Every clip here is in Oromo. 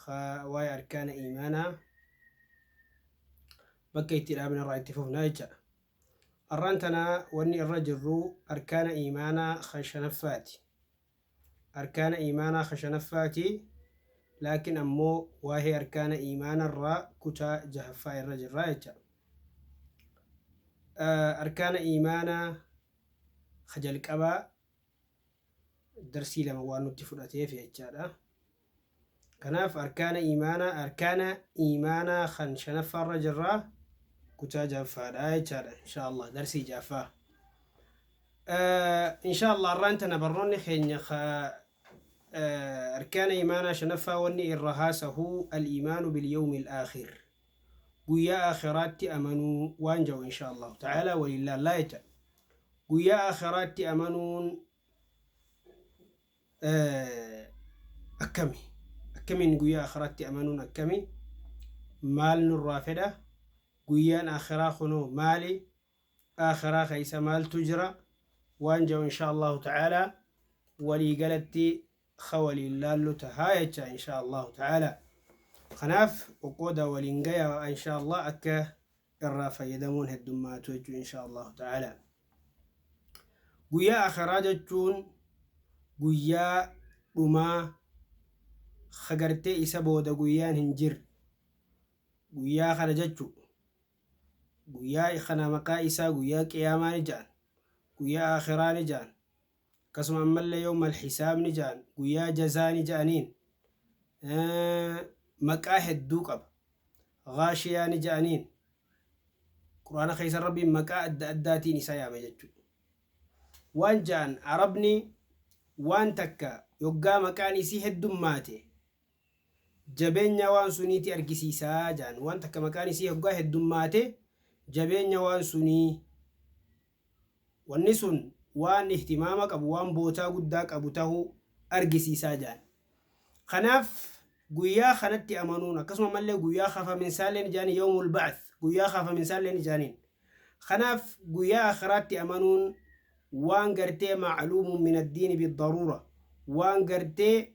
ka waa'ee arkaana iimaanaa bakka itti dhaabne irraa itti fufna jecha. Arraan tana wanni irra jirru arkaana iimaanaa ka shanaffaati. Arkaana iimaanaa ka shanaffaati laakiin ammoo waa'ee arkaana iimaanarraa kutaa jahaffaa irra jirra jecha. Arkaana iimaanaa ka jalqabaa darsii lama waan nutti fudhateef jechaadha. Kanaaf arkaana iimaanaa arkaana iimaanaa kan shanaffaarra jirra kutaa jaffaadha jechaadha inshaallah darsii jaffaa. Inshaallah arraan tana barnoonni keenya arkaana iimaanaa shanaffaa wanni irra haasahuu al-iimaanu bil-yawmil aakhir guyyaa aakhiraatti amanuu waan ja'u inshaa Allaahu ta'aalaa waliin laallaa jecha. Guyyaa aakhiraatti amanuun akkami? Akkamiin guyyaa aakhiraatti amanuun akkami? Maal nurraa fedha? Guyyaan aakhiraa kunoo maali? aakhiraa keessa maaltu jira waan ja'u inshaa Allaahu ta'aalaa walii galatti ka waliin laallu tahaa jechaa inshaa Allaahu ta'aalaa. Kanaaf qoqqoodaa waliin gayaa inshaa Allaah akka irraa fayyadamuun heddummaatu jechuu inshaa Allaahu ta'aalaa. Guyyaa aakhiraa jechuun guyyaa dhumaa ka gartee isa booda guyyaan hin jirre guyyaa kana jechu. Guyyaa kana maqaa isaa guyyaa qiyaamaa ni ja'an, guyyaa aakhiraa ni ja'an, akkasuma ammallee yawmal hisaab ni ja'an, guyyaa jazaa ni ja'aniin. maqaa hedduu qaba. Gaashiyaa ni ja'aniin. Qur'aana keessa Rabbiin maqaa adda addaatiin isaa yaama jechuudha. Waan ja'an Arabni waan takka yoggaa maqaan isii heddummaate jabeenya waan sunii ti argisiisa jedhan. Waan takka maqaan isii hoggaa heddummaate jabeenya waan sunii wanni sun waan ihtimaama qabu, waan bootaa guddaa qabu tahuu argisiisa jedhan. Kanaaf guyyaa kanatti amanuun akkasuma ammallee guyyaa kafaminsaallee ni jedhaniin yawmul ba'ath guyyaa kaafaminsaallee ni jedhaniin. Kanaaf guyyaa akhiraatti amanuun waan gartee ma'luumun min addiini biddaruura waan gartee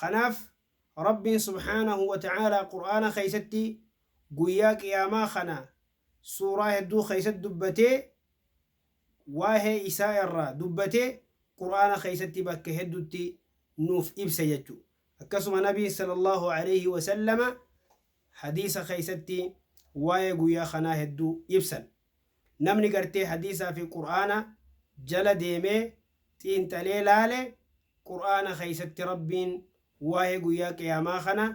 Kanaaf Rabbiin subhaanahu wa ta'aalaa Qur'aana keessatti Guyyaa Qiyaamaa kana suuraa hedduu keessatti dubbatee waa'ee isaa irraa dubbatee Qur'aana keessatti bakka hedduutti nuuf ibse jechuudha. Akkasuma Nabiin sallallaahu aleeyhi wa sallama Hadiisa keessatti waa'ee guyyaa kanaa hedduu ibsan. Namni gartee hadiisaa fi qur'aana jala deemee xiinxalee laale qur'aana keessatti Rabbiin waa'ee guyyaa qiyaamaa kana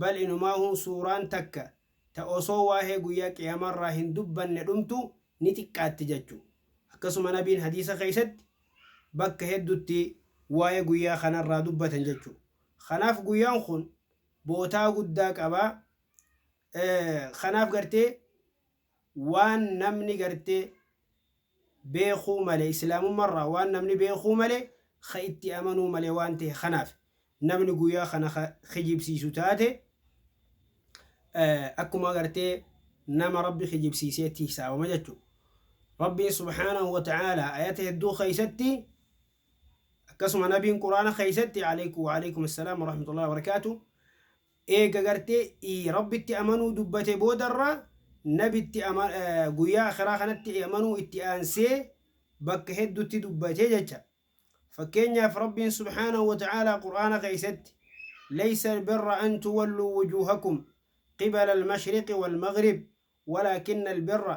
bal inumaahuu suuraan takka ta osoo waa'ee guyyaa qiyaamaarraa hin dubbanne dhumtu ni xiqqaatti jachu akkasuma nabiin hadiisa keessatti bakka heddutti waa'ee guyyaa kanarraa dubbatan jachu kanaaf guyyaan kun bootaa guddaa qaba Kanaaf gartee waan namni gartee beekuu male islaamumma irraa waan namni beekuu male ka itti amanuu male waan ta'e kanaaf namni guyyaa kana ka kijibsiisu taate akkuma gartee nama rabbi kijibsiiseetti hisaabama jechu rabbiin subhaanahu wa ta'aalaa ayata hedduu keessatti akkasuma nabiin quraana keessatti alaykum wa alaykum assalaam wa rahmatullahi wa barakaatu Eega gartee i Rabbitti amanuu dubbate boodarra Nabitti ama guyyaa aakhiraa kanatti amanuu itti aansee bakka heddutti dubbate jecha. Fakkeenyaaf Rabbiin subhaanahu wa ta'aalaa Qur'aana keessatti Laysa al-birra an tuwalluu wujuuhakum qibala al-mashriqi wal-maghrib walaakinna al-birra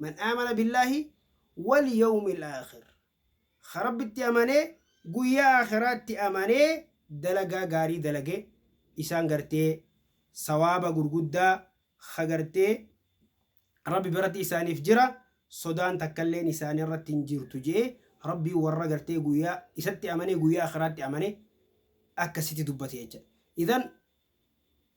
Man aamana billaahi wal yawmil aakhir Ka Rabbitti amanee guyyaa aakhiraatti amanee dalagaa gaarii dalage isaan gartee sawaaba gurguddaa ka gartee Rabbi biratti isaaniif jira sodaan takkalleen isaanirratti hin jirtu je'ee Rabbiin warra gartee guyyaa isatti amanee guyyaa aakhiraatti amane akkasitti dubbate jecha idhan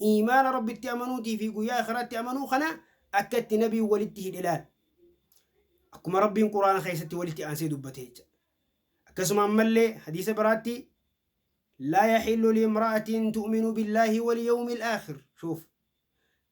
Iimaana Rabbitti amanuutii fi Guyyaa Aakhiraatti amanuu kana akka itti Nabiin walitti hidhe ilaali. Akkuma Rabbiin Qur'aana keessatti walitti aansee dubbate jecha. Akkasuma ammallee hadiisa biraatti Laa yaxillu liimra'atin tu'minu billaahi wal yawmil aakhir. Shuuf.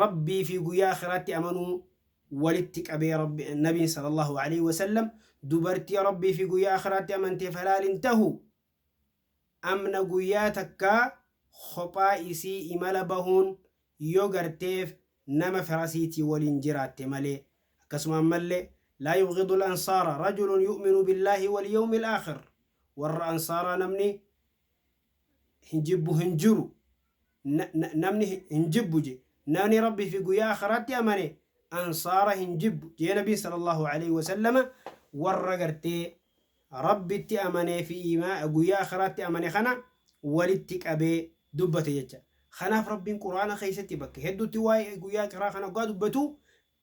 Rabbii fi guyyaa akhiraatti amanuu walitti qabee Nabiin sallallahu aleyh wasallam dubartii Rabbii fi guyyaa akhiraatti amanteef halaal hin tahu amna guyyaa takkaa khophaa isii imala bahuun yo garteef nama firasiitii waliin jiraatte malee akkasuma ammalle laa yubghidu al ansaara rajulun yu'minu billaahi wal yawmi al aakhir warra ansaaraa namni hin jibbu hin jiru namni hin jibbu je namni rabbi fi guyyaa akhiraatti amane ansaara hin jibbu jee nabiin sallallahu alaihi wasallama warra gartee rabbitti amanee fi guyyaa akhiraatti amane kana walitti qabee dubbate jecha kanaaf rabbiin quraana keessatti bakka hedduutti waa'ee guyyaa akhira kana oggaa dubbatu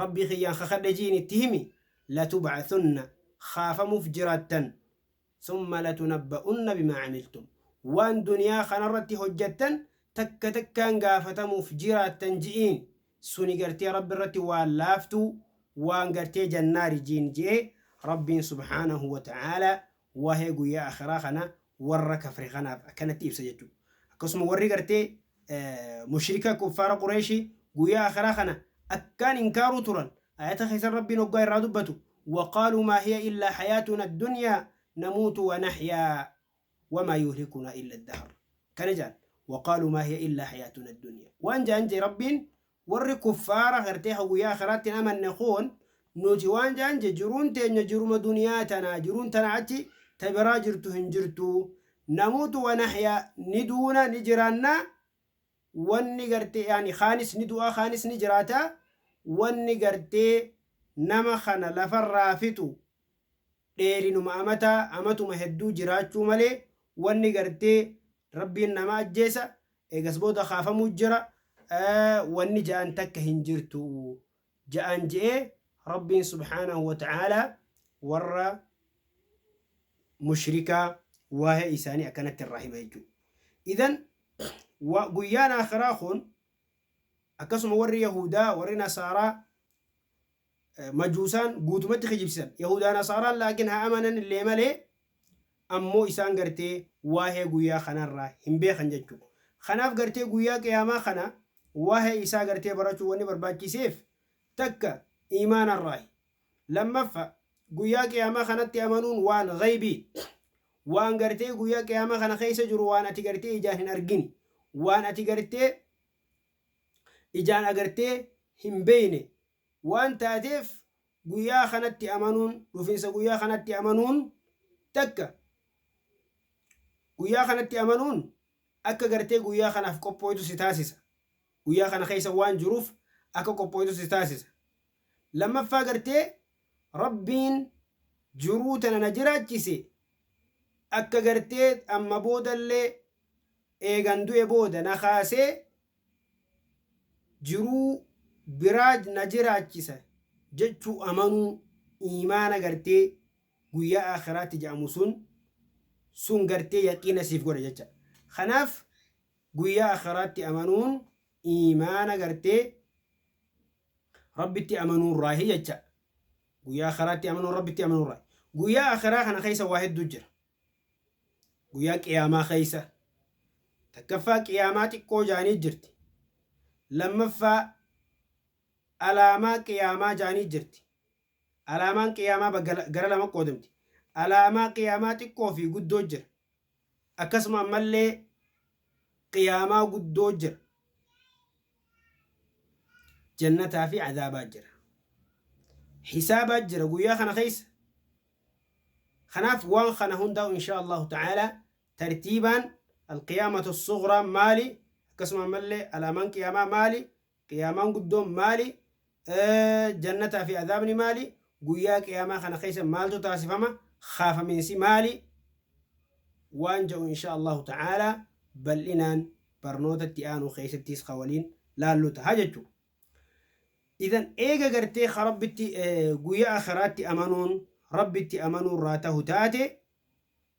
rabbii kiyyaan kakadhe jiin itti himi latubcathunna kaafamuuf jiraattan summa latunabba'unna bimaa camiltum waan duniyaa kanarratti hojjattan takka takkaan gaafatamuuf jiraattan ji'iin suni gartee rabbi irratti waan laaftuu waan gartee jannaari jiin je'e rabbiin subhaanahu wa ta'aalaa waa'ee guyyaa aakhiraa kana warra kafre kanaaf akkanatti ibsa jechuudha. Akkasuma warri gartee mushrika kuffaara qureeshii guyyaa aakhiraa kana akkaan inkaaruu turan ayata keessan rabbiin hoggaa irraa dubbatu waqaaluu maa hiya illaa hayaatuna addunyaa namuutu wa nahyaa wamaa yuhlikunaa illa addahar kana jaan waqaaluu maa hiya illaa hayaatuna addunyaa waan jaan jee rabbiin Warri kuffaara gartee ka guyyaa akhiraatti hin amanne kun nuti waan ja'an je jiruun teenya jiruma duniyaa tanaa jiruun tanaa achi ta biraa jirtu hin jirtuu namuutu wa nahya ni duuna ni jiraanna wanni gartee yaani kaanis ni du'aa kaanis ni jiraata wanni gartee nama kana lafarraa fixu dheerinuma amataa amatuma hedduu jiraachuu malee wanni gartee Rabbiin nama ajjeesa Eegas booda kaafamuu jira, wanni ja'an takka hin jirtu ja'an je'ee Rabbiin subhaanahu wa ta'aalaa warra mushrikaa waa'ee isaanii akkanatti irraa hima jechuudha. Idan guyyaan akhiraa kun akkasuma warri Yahuudaa, warri Nasaaraa, majuusaan guutumatti kijibsisan yahudaa nasaaraan laakin haa amananillee malee ammoo isaan gartee waahee guyyaa kanarraa hin beekan jechuu kanaaf gartee guyyaa qiyaamaa kana waahee isaa gartee barachuu wanni barbaachiseef takka iimaanarraahi lammaffa guyyaa qiyaamaa kanatti amanuun waan gaybii waan gartee guyyaa qiyaamaa kana keessa jiru waan ati gartee ijaan hin argini waan ati gartee ijaan agartee hin beeyne waan taateef guyyaa kanatti amanuun, dhufinsa guyyaa kanatti amanuun takka guyyaa kanatti amanuun akka gartee guyyaa kanaaf qophooytu si taasisa. Guyyaa kana keessa waan jiruuf akka qophooytu si taasisa. Lammaffaa gartee Rabbiin jiruu tana na jiraachise akka gartee amma boodallee eegan du'e booda na kaasee jiruu biraa na jiraachisa jechuu amanuu iimaana gartee guyyaa aakhiraatti ja'amu sun sun gartee yaqiina siif godha jecha. Kanaaf guyyaa aakhiraatti amanuun iimaana gartee Rabbitti amanuurraahi jecha. Guyyaa Akhiraatti amanuun Rabbitti amanuurraahi. Guyyaa Akhiraa kana keessa waa hedduu jira. Guyyaa Qiyaamaa keessa. Takkaffaa Qiyaamaa xiqqoo jaanii jirti. Lammaffaa Alaamaa Qiyaamaa jaanii jirti. Alaamaan Qiyaamaa bakka gara lama qoodamti. Alaamaa Qiyaamaa xiqqoo fi guddoo jira. Akkasuma ammallee Qiyaamaa guddoo jira. Jannataa fi Azaabaa jira. Hisaabaa jira guyyaa kana keessa. Kanaaf waan kana hundaa'u inshaa Allahu ta'aala tartiibaan Alqiyaamatu Sughraa maali akkasuma ammallee alaamaan Qiyaamaa maali Qiyaamaan guddoon maali? Jannataa fi azaabni maali? Guyyaa Qiyaamaa kana keessa maaltu taasifama? Kaafaminsi maali? Waan ja'u inshaa Allaahu ta'aala bal'inaan barnoota itti aanu keessattis ka waliin laallu taha jechu. Idan eega gartee ka Rabbitti guyyaa akhiraatti amanuun Rabbitti amanuu irraa tahu taate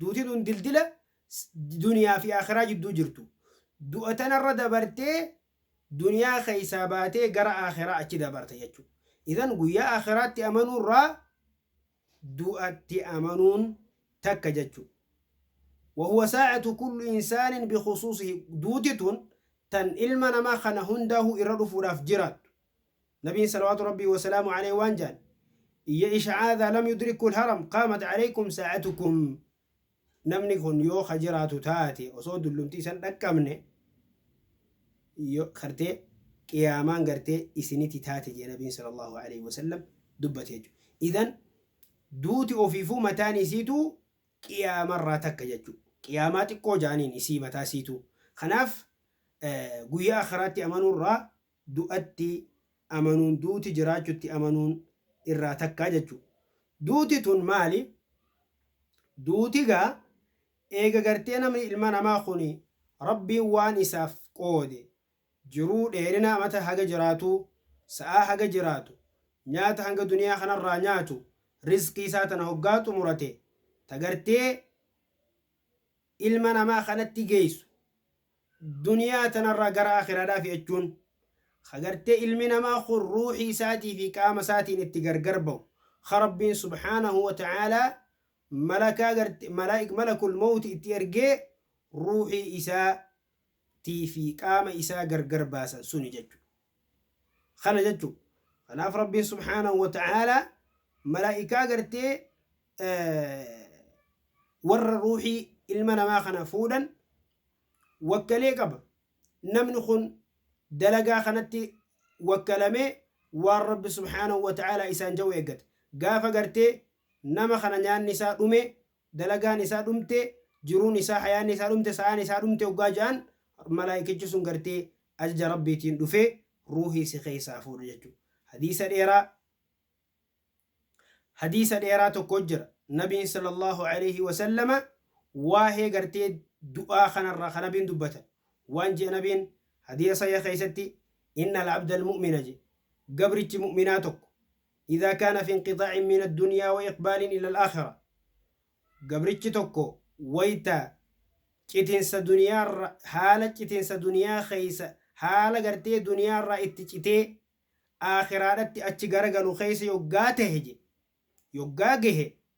Duuti tun dildila duniyaa fi aakhiraa jidduu jirtu. Du'a tanarra dabartee duniyaa keessaa baatee gara aakhiraa achi dabarta jechuudha. Idhan guyyaa aakhiraatti amanuurraa du'atti amanuun takka jechuudha. Wahuwa saa'atu kullu insaanin bikhusuusihi. Duuti tun tan ilma namaa kana hundaahuu irra dhufuudhaaf jiraattu. Nabiin salawaatu Rabbii wasalaamu aleyh waan jaan Iyya isha'aa idhaa lam yudrikkul haram qaamat aleykum saa'atukum Namni kun yoo ka jiraatu taate osoo dullumti isan dhaqqabne yo gartee qiyaamaan gartee isiniti taate jee Nabiin sallallahu aleyh wasallam dubbate jechu. Idhan duuti ofiifuu mataan isiituu qiyaamarraa takka jechu. Qiyaamaa xiqqoo jaaniin isii mataa isiituu. Kanaaf guyyaa akhiraatti amanuurraa du'atti amanuun duuti jiraachutti amanuun irraa takka jechu. Duuti tun maali? Duuti gaa eega gartee namni ilma namaa kuni Rabbiin waan isaaf qoode jiruu dheerina amata haga jiraatuu, sa'aa haga jiraatu, nyaata hanga duniyaa kanarraa nyaatu, rizqii isaa tana hoggaa xumurate ta gartee ilma namaa kanatti geeysu duniyaa tanarraa gara aakhiraadhaa fi'achuun kha gartee ilmi namaa khun ruuhii isaatii fi qaama isaatiin itti gargar bahu kha Rabbiin subhaanahu wa ta'aalaa malakaa garte malaik malakul mawti itti ergee ruuhii isaa tii fi qaama isaa gargar baasan suni jechuudha. Kana jechu. Kanaaf Rabbiin subhaanahu wa ta'aalaa malaa'ikaa gartee warra ruuhii ilma namaa kana fuudhan wakkalee qaba. Namni kun dalagaa kanatti wakkalamee waan Rabbi subhaanahu wa ta'aalaa isaan ja'u eeggata. Gaafa gartee nama kana nyaanni isaa dhume dalagaan isaa dhumte, jiruun isaa, hayaanni isaa dhumte, sa'aan isaa dhumte oggaa ja'an, malaaykichi sun gartee ajaja Rabbiitiin dhufee ruuhii si keessaa fuudha jechu. Hadiisa dheeraa Hadiisa dheeraa tokko jira. Nabiin sallallaahu aleeyhi wasallama waahee gartee du'aa kanarraa ka Nabiin dubbatan. Waan je'e Nabiin hadiisa sahiha keessatti, Innal abdal mu'mina je, gabrichi mu'minaa tokko, Idha kana fi inqixaa'in min addunyaa wa iqbaalin ila alaakhirah Gabrichi tokko wayta citinsa duniyaarra haala citinsa duniyaa keessa haala gartee duniyaarraa itti citee aakhiraadhatti achi garagalu keessa yoggaa tahe je yoggaa gahe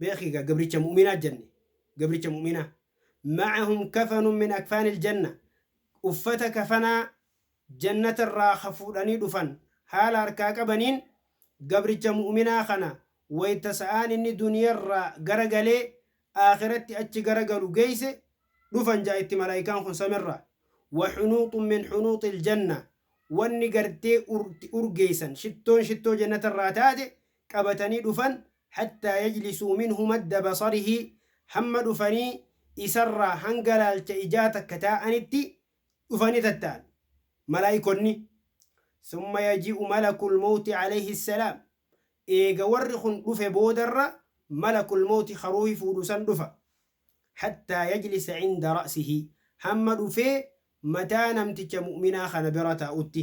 beeki egaa gabricha mu'minaa janne gabricha mu'minaa ma'ahum kafanun min akfaanil janna uffata kafanaa jannata irraa ka fuudhanii dhufan haala harkaa qabaniin gabricha mu'minaa kana wayta sa'aan inni duniya irraa gara galee aakhiratti achi gara galu geeyse dhufan ja'a itti malaaykaan kun samirraa wa hunuuxun min hunuuxil janna wanni gartee urgeeysan shittoon shittoo jannata irraa taate qabatanii dhufan hattaa yajlisuu minhu madda basarihi hamma dhufanii isarraa hanga laalcha ijaa takka taa'anitti dhufanii tatta'an malaa'ikonni summa yaji'u malakul mawti alayhi salaam eega warri kun dhufe boodarra malakul mawti ka ruuhi fuudhu san dhufa hattaa yajlisa cinda ra'sihi hamma dhufee mataa namticha mu'minaa kana bira taa'utti.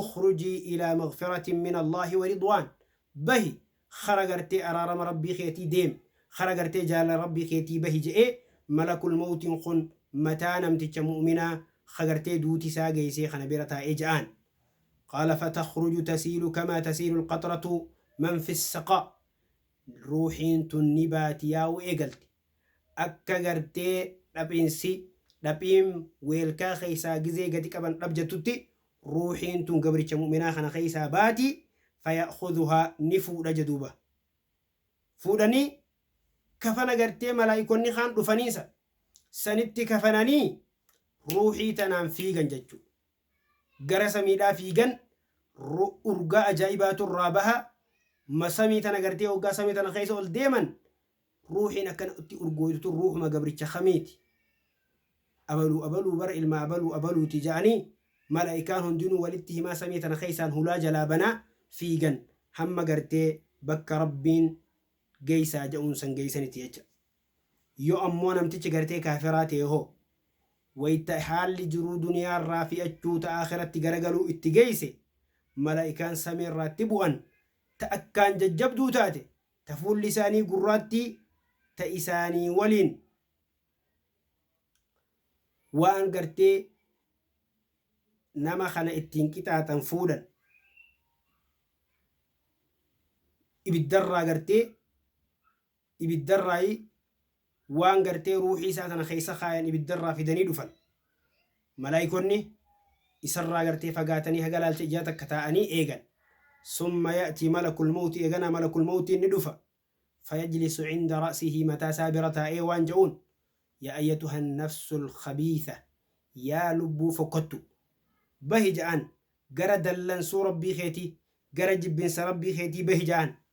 ukhrujii ilaa maghfiratin min Allahi wa ridwaan bahi kara gartee araarama Rabbii keetii deemi kara gartee jaalala Rabbii keetii bahi je'ee malakul mawtin kun mataa namticha mu'minaa ka gartee duuti isaa geeysee kana bira taa'ee ja'aan qaala fatakhruju tasiilu kamaa tasiilu alqatratu man fi ssaqaa ruuhiin tun ni baati yaa'uu eegalte. Akka gartee dhaphinsi, dhaphiim, weelkaa keessaa gizee gadi qaban dhabjattutti ruuhiin tun gabricha mu'minaa kana keessaa baati, faya'khuduhaa, ni fuudha jaduuba. Fuudhanii kafana gartee malaa'ikonni kaan dhufaniisa sanitti kafananii ruuhii tanaan fiigan jachu. Gara samiidhaa fiigan ru urgaa ajaa'ibaatu irraa baha, ma samii tana gartee hoggaa samii tana keessa ol deeman Ruuhiin akkana itti urgooytu tun ruuhuma gabricha kamiiti? Abaluu abaluu bara ilma abaluu abaluuti ja'anii malaa'ikaan hundinuu walitti himaa samii tana keessaan hulaa jalaa banaa fiigan hamma gartee bakka Rabbiin geessaa ja'uun san geessanitti jecha. Yoo ammoo namtichi gartee kaafiraa ta'e hoo? Wayta haalli jiruu duniyaarraa fi'achuu ta aakhiratti garagaluu itti geesse malaa'ikaan samiirraa itti bu'an ta akkaan jajjabduu taate ta fuulli isaanii gurraattii ta isaanii waliin waan gartee nama kana ittiin qixaaxan fuudhan ibiddarraa gartee ibiddarraa waan gartee ruuhii isaa tana keessa kaayan ibidda irraa fidanii dhufan. Malaa'ikonni isarraa gartee fagaatanii haga laalcha ijaa takka taa'anii eegan. Summa ya'tii malakul mawti eeganaa malakul mawtiin ni dhufa. Fayajlisu cinda ra'sihi mataa isaa bira taa'ee waan ja'uun Yaa ayyatuhan nafsul khabiitha Yaa lubbuu fokkottu. Bahi ja'an gara dallansuu Rabbii keetii, gara jibbinsa Rabbii keetii bahi ja'an.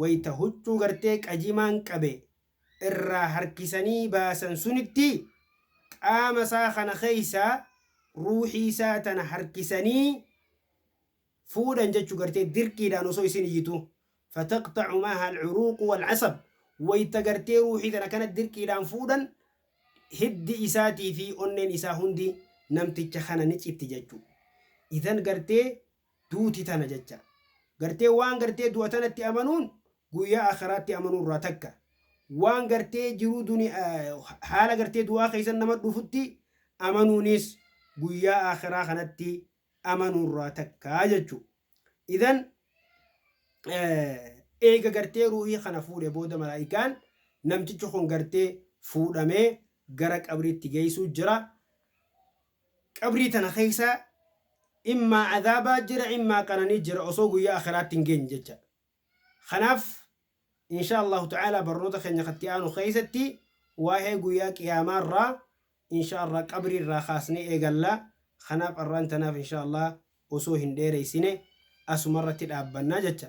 wayta huccuu gartee qajimaan qabe irraa harkisanii baasan sunitti qaama isaa kana keessaa ruuhii isaa tana harkisanii fuudhan jechu gartee dirqiidhaan osoo isin iyyituu fataqxacu maaha alcuruuqu walcasab wayta gartee ruuhii tana kana dirqiidhaan fuudhan hiddi isaatii fi onneen isaa hundi namticha kana ni citti jechu idan gartee Duuti tana jecha. Gartee waan gartee du'a tanatti amanuun guyyaa aakhiraatti amanuu irraa takka. Waan gartee jiruu duni haala gartee du'aa keessa nama dhufutti amanuunis guyyaa aakhiraa kanatti amanuu irraa takka jechu. Idan eega gartee ruuhii kana fuudhe booda malaa'ikaan namtichi kun gartee fuudhamee gara qabriitti geessuu jira. Qabrii tana keessa immaa azaabaa jira immaa qananii jira osoo guyyaa akhiraatti hin geenye jecha. Kanaaf inshaa Allaahu ta'aalaa barnoota keenya ka itti aanu keessatti waa'ee guyyaa qiyaamaa irraa inshaa Allaah qabrii irraa kaasnee eegalla. Kanaaf arraan tanaaf inshaa Allaah osoo hin dheereessine asuma irratti dhaabbanna jecha.